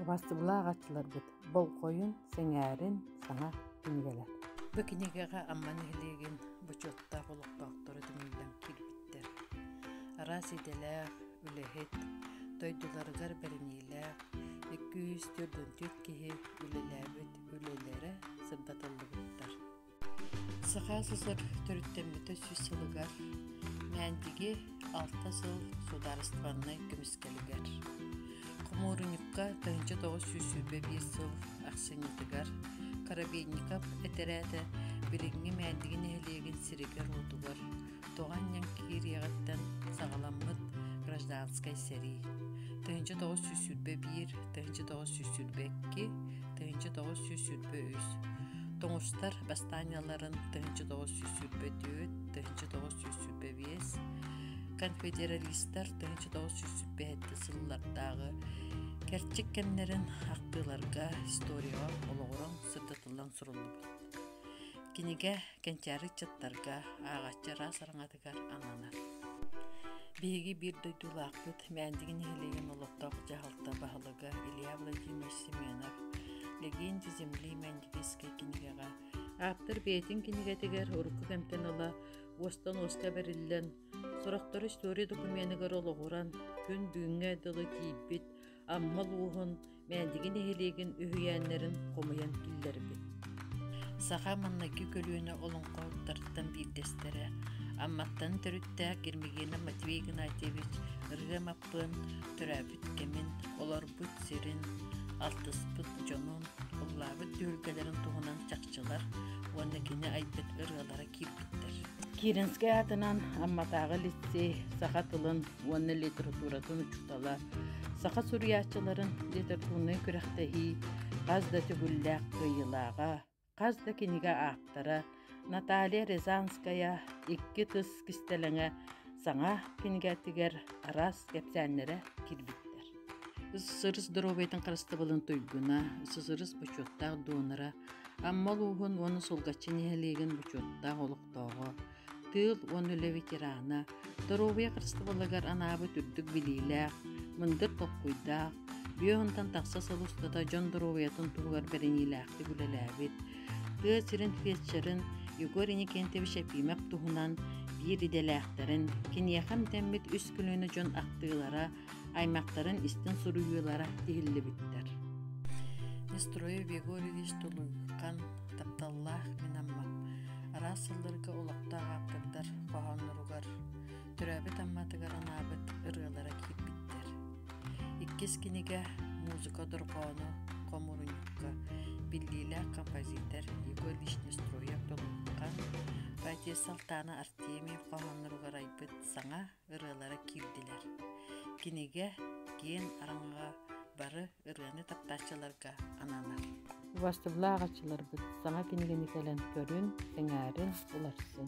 Убастыбылаах аччыларгыт болҕойун, сэҥээрин саҥа кинигэлэр. Бу кинигэҕэ Амма нэһилиэгин бочуоттаах олохтоохторо түмүллэн киирбиттэр. Араас идэлээх, үлэһит, дойдуларыгар бэриниилээх, икки үс төрдүн түөрт киһи үлэлээбит үлэлэрэ сырдатыллыбыттар. Саха СССР төрүттэммитэ сүүс сылыгар Мээндиги алта сыл судаарыстыбаннай көмүскэлигэр Хомуурунньукка тыһыынча тоҕус сүүс сүүрбэ биир сыл ахсынньытыгар Коробейников этэрээтэ билиҥҥи Мээндиги нэһилиэгин сиригэр-уотугар Тоҕо анньан киириэҕиттэн саҕаламмыт гражданскай сэрии. Тыһыынча тоҕус сүүс сүүрбэ биир, тыһыынча тоҕус сүүс сүүрбэ икки, тыһыынча тоҕус сүүс сүүрбэ үс. Тоҥустар бастаанньаларын тыһыынча тоҕус сүүс сүүрбэ түөрт, тыһыынча тоҕус сүүс сүүрбэ биэс. Конфедералистар тыһыынча тоҕус сүүс сүүрбэ сыллардааҕы кэрчик кэмнэрин ахтыыларга историяҕа олоҕуран сырдатыллан суруллубут. Кинигэ Кэнчээри ыччаттарга, ааҕаччы араас араҥатыгар ананар. Биһиги биир дойдулаахпыт, Мээндиги нэһилиэгин олохтоох дьаһалта баһылыга Илья Владимирович Семенов «Легенды земли Мээндигийскэй кинигэҕэ» ааптар бэйэтин кинигэтигэр урукку кэмтэн ыла уостан уоска бэриллэн, сорохтору история докуменыгар олоҕуран, күн бүгүҥҥэ дылы тиийбит, Аммал ууһун Мээндиги нэһилиэгин үһүйээннэрин хомуйан киллэрбит. Саха маҥнайгы көлүөнэ олоҥхоһуттарыттан биирдэстэрэ, Амматтан төрүттээх Гермигена Матвей Игнатьевич ырыа маппын, төрөөбүт кэмин, олорбут сирин, алтыспыт дьонун, уллаабыт түһүлгэлэрин туһунан чахчылар уонна кини айбыт ырыалара киирбиттэр. Кииринскэй аатынан Амматааҕы лицей саха тылын уонна литературатын учуутала, саха суруйааччыларын литературнай күрэхтэһии хас да төгүллээх кыайыылааҕа, хас да кинигэ ааптара Наталья Рязанская икки тыс кистэлэҥэ саҥа кинигэтигэр араас кэпсээннэрэ кирбиттэр. СССР здоровьетын харыстабылын туйгуна, СССР бочуоттаах донора, Амма улууһун уонна Сулгаччы нэһилиэгин бочуоттаах олохтооҕо, тыыл уонна үлэ ветерана, доруобуйа харыстабылыгар анаабыт үрдүк билиилээх, мындыр толкуйдаах, бүө онтон тахса сыл устата дьон доруобуйатын туһугар бэриниилээхтик үлэлээбит, тыа сирин фельдшерин Егор Иникентьевич Епимов туһунан биир идэлээхтэрин, киниэхэ эмтэммит үс көлүөнэ дьон ахтыылара, аймактарын истин суруйуулара тиһиллибиттэр Нестрой Григорьевич Тулуйхан тапталлаах мин аммам араас сылларга олохтоох ааптардар хоһоонноругар төрөөбүт амматыгар анаабыт ырыалара киирбиттэр иккис кинигэ музыка дорҕоону хомурунньукка биллиилээх композитор Егор Вишнестроев Тулуйхан Поэтесса Алтаана Артемьев хоһоонноругар айбыт саҥа ырыалара киирдилэр. Кинигэ киин араҥаҕа бары ырыаны таптааччыларга ананар. Убастыллаах аччыларбыт саҥа кинигэни кэлэн көрүн, сэҥээрин, уларсын!